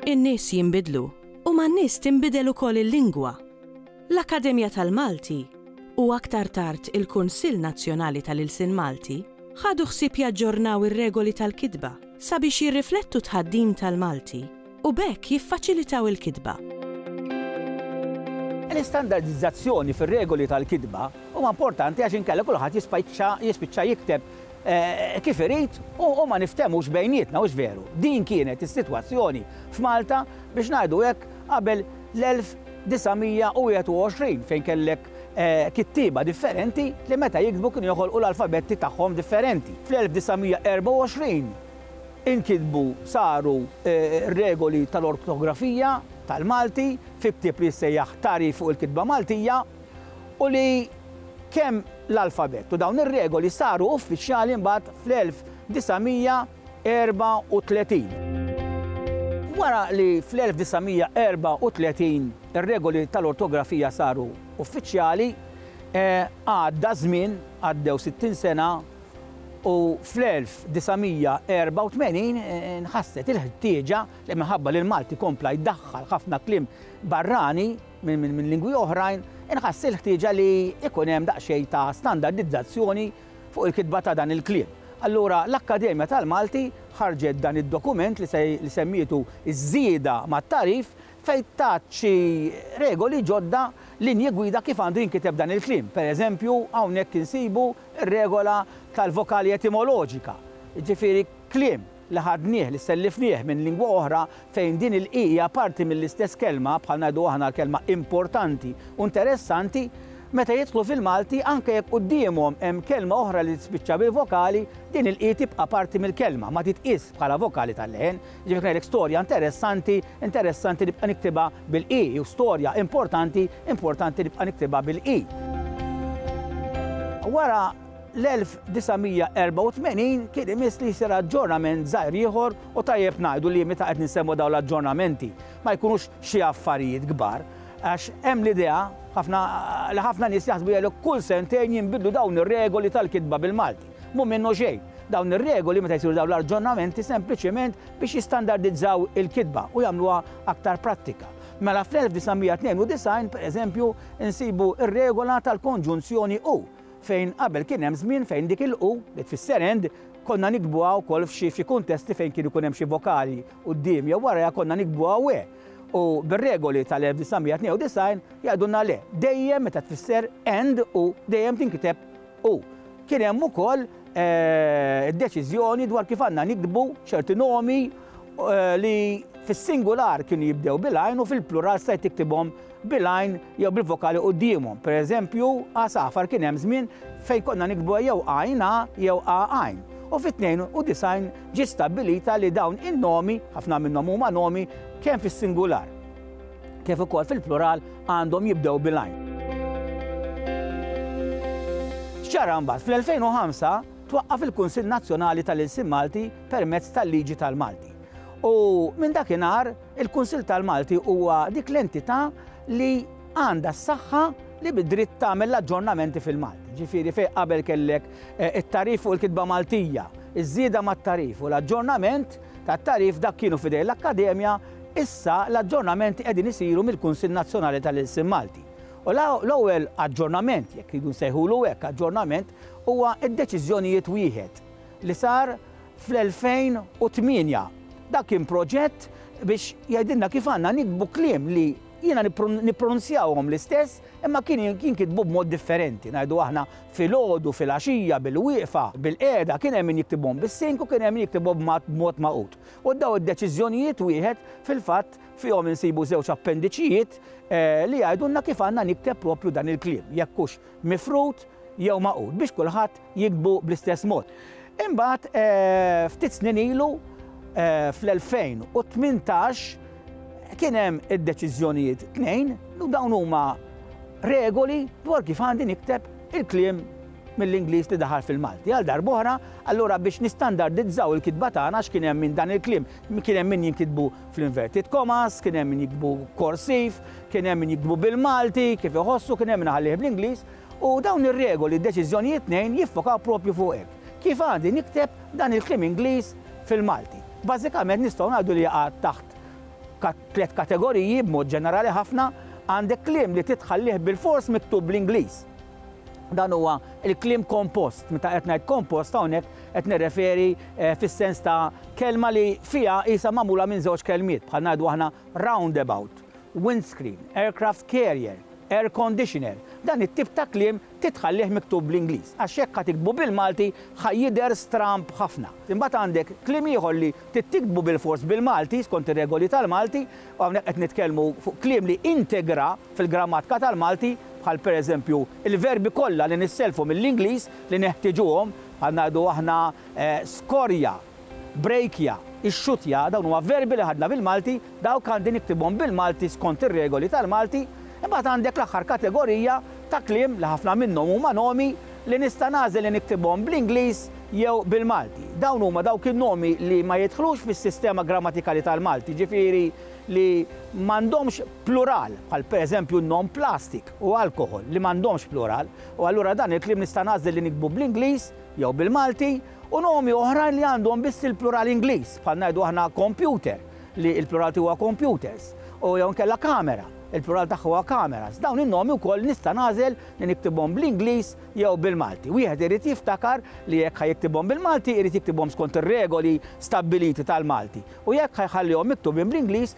In-nies jinbidlu u man-nies tinbidel ukoll il-lingwa. L-Akkademja tal-Malti, u aktar tard il-Kunsill Nazzjonali tal-Ilsien Malti, ħadu ħsieb jaġġornaw ir-regoli tal-kitba sabiex jirriflettu t-tħaddim tal-Malti. u b'hekk jiffaċilitaw il-kitba. L-istandardizzazzjoni fir-regoli tal-kitba huma importanti għax inkella kulħadd jispiċċa jikteb kif irid u ma niftehmux bejnietna, hux veru? Din kienet is-sitwazzjoni f'Malta biex ngħidu hekk qabel l-1921 fejn kellek kittieba differenti li meta jiktbu kienu joħolqu l-alfabetti tagħhom differenti. Fl-1924 Inkitbu, saru, regoli tal-ortografija tal-Malti fi ktieb li jissejjaħ Tagħrif fuq il-Kitba Maltija u li kemm l-alfabett u dawn ir-regoli saru uffiċjali mbagħad fl-1934. Wara li fl-1934 ir-regoli tal-ortografija saru uffiċjali, għadda żmien, għaddew sittin sena, u fl-1984 nħasset il-ħtieġa li minħabba li l-Malti kompla jdaħħal ħafna kliem barrani minn lingwi oħrajn, inħass il-ħtieġa li jkun hemm daqsxejn ta' standardizzazzjoni fuq il-kitba ta' dan il-kliem. Allura l-Akkademja tal-Malti ħarġet dan id-dokument li semmietu Ż-Żieda mat-Tagħrif fejn tat xi regoli ġodda, linji gwida kif għandu jinkiteb dan il-kliem. Pereżempju, hawnhekk insibu Ir-regola tal-vokali etimoloġika, jiġifieri kliem li ħadnieh, li sellifnieh minn lingwa oħra fejn din il-i hija parti mill-istess kelma, bħal ngħidu aħna l-kelma importanti u nteressanti, meta jidħlu fil-Malti, anke jekk quddiemhom hemm kelma oħra li tispiċċa bil-vokali, din il-i tibqa' parti mill-kelma, ma titqiesx bħala vokali tal-leħen. Jiġifieri ngħidlek storja interessanti, interessanti nibqa' niktibha bil-qi, jew storja importanti, importanti nibqa' niktibha bil-qi. Wara l-1984 kien imiss li jsir aġġornament żgħir ieħor u tajjeb ngħidu li meta qed nsemmu dawn l-aġġornamenti ma jkunux xi affarijiet kbar għax hemm l-idea ħafna li ħafna nies jaħsbu jgħidlek kull sentejn jinbidlu dawn ir-regoli tal-kitba bil-Malti. Mhu minnu xejn. Dawn ir-regoli, meta jsiru dawn l-arġonamenti, sempliċement biex jistandardizzaw il-kitba u jagħmluha aktar prattika. Mela fl-1992, pereżempju, insibu r-regola tal-konġunzjoni u, fejn qabel kien hemm żmien fejn dik il-u, li tfisser and, konna niktbuha wkoll f'xi f'xi kuntesti fejn kien ikun hemm xi vokali quddiem jew warajha konna niktbuha we. U bir-regoli tal-1992 jgħidulna le, dejjem meta tfisser and u dejjem tinkiteb U kien hemm ukoll id-deċiżjoni dwar kif għandna nikdbu ċerti nomi li fis-singular kienu jibdew bil-għajn u fil-plural stajt tiktibhom bil-għajn jew bil-vokali quddiemhom. Pereżempju, għasafar kien hemm żmien fejn konna nikdbuha jew għajn a jew a għajn. U fit-92 ġiet stabbilita li dawn in-nomi, ħafna minnhom huma nomi, kemm fis-singular kif ukoll fil-plural għandhom jibdew bil-għajn. X'ġara mbagħad? Fl-2005 twaqqaf il-Kunsill Nazzjonali tal-Ilsien Malti permezz tal-Liġi tal-Malti. U minn dakinhar il-Kunsill tal-Malti huwa dik l-entità li għandha s-saħħa li bid-dritt tagħmel l-aġġornamenti fil-Malti. Ġifieri fejn qabel kellek eh, it-tarif fuq il-kitba Maltija, iż-żieda mat-tarif u l-aġġornament tat-tagħrif dak kienu f'idejn l-Akkademja, issa l-aġġornamenti qegħdin isiru mill-Kunsill Nazzjonali tal-Ilsien Malti. U l-ewwel aġġornament, jekk irridu nsejħulu hekk aġġornament, huwa d-deċiżjonijiet wieħed li sar fl-2008. Dak kien proġett biex jgħidilna kif għandna niktbu kliem li jiena nippronunzjahom l-istess Imma kienu jinkitbu b'mod differenti, ngħidu aħna filgħodu, filgħaxija, bilwieqfa, bilqiegħda, kien hemm min jiktibhom bis-sink u kien hemm min jiktibhom b'mod magħqud. U dawn id-deċiżjonijiet wieħed fil-fatt fihom insibu żewġ appendiċijiet li jgħidulna kif għandna nikteb proprju dan il-kliem, jekk hux mifrud jew magħqud, biex kulħadd jiktbu bl-istess mod. Imbagħad ftit snin ilu fl-2018 kien hemm id-deċiżjonijiet tnejn u dawn huma regoli dwar kif għandi nikteb il-kliem mill-Ingliż li daħal fil-Malti. Għal darbohra, allura biex nistandardizzaw il-kitba tagħna x'kien hemm minn dan il-kliem, kien hemm min jinkitbu fl-inverted commas, kien hemm min jiktbu korsiv, kien hemm min jiktbu bil-Malti, kif iħossu, kien hemm min ħallih bl-Ingliż, U dawn ir-regoli u deċiżjonijiet tnejn jiffokaw proprju fuq hekk. Kif għandi nikteb dan il-kliem Ingliż fil-Malti? Bażikament nistgħu ngħidu li jaqa' taħt tliet kategoriji b'mod ġenerali ħafna, għandek kliem li trid tħallih bilfors miktub bl-Ingliż. Dan huwa l-kliem kompost. Meta qed ngħid kompost hawnhekk qed nirreferi fis-sens ta' kelma li fiha qisha magħmula minn żewġ kelmiet, bħal ngħidu aħna roundabout. windscreen, aircraft carrier, air conditioner, dan it-tip ta' kliem trid tħallih miktub bl-Ingliż għax jekk ħa tiktbu bil-Malti ħa jidher stramb ħafna. Imbagħad għandek kliem ieħor li trid tiktbu bilfors bil-Malti skont ir-regoli tal-Malti u hawnhekk qed nitkellmu fuq kliem li integra fil-grammatka tal-Malti bħal pereżempju l-verbi kollha li nissellfu mill-Ingliż li neħtiġuhom bħal ngħidu aħna skorja, Brejkja, ixxuttja, dawn huma verbi li ħadna bil-Malti, dawk għandi niktibhom bil-Malti skont ir-regoli tal-Malti, imbagħad għandek l-aħħar kategorija ta' kliem li ħafna minnhom huma nomi li nista' nagħżel li niktibhom bl-Ingliż jew bil-Malti. Dawn huma dawk in-nomi li ma jidħlux fis-sistema grammatikali tal-Malti, jiġifieri li m'għandhomx plural, bħal pereżempju n-nom plastic u alcohol li m'għandhomx plural, u allura dan il-kliem nista' nagħżel li niktbu bl-Ingliż jew bil-Malti, u nomi oħrajn li għandhom biss il-plural Ingliż, bħal ngħidu aħna computer, li l-plural tiegħu huwa computers, u jew inkella camera, il-plural tagħha huwa cameras. Dawn in-nomi wkoll nista' nagħżel li niktibhom bl-Ingliż jew bil-Malti. Wieħed irid jiftakar li jekk ħa jiktibhom bil-Malti jrid jiktibhom skont ir-regoli stabbiliti tal-Malti u jekk ħa jħallihom miktubin bl-Ingliż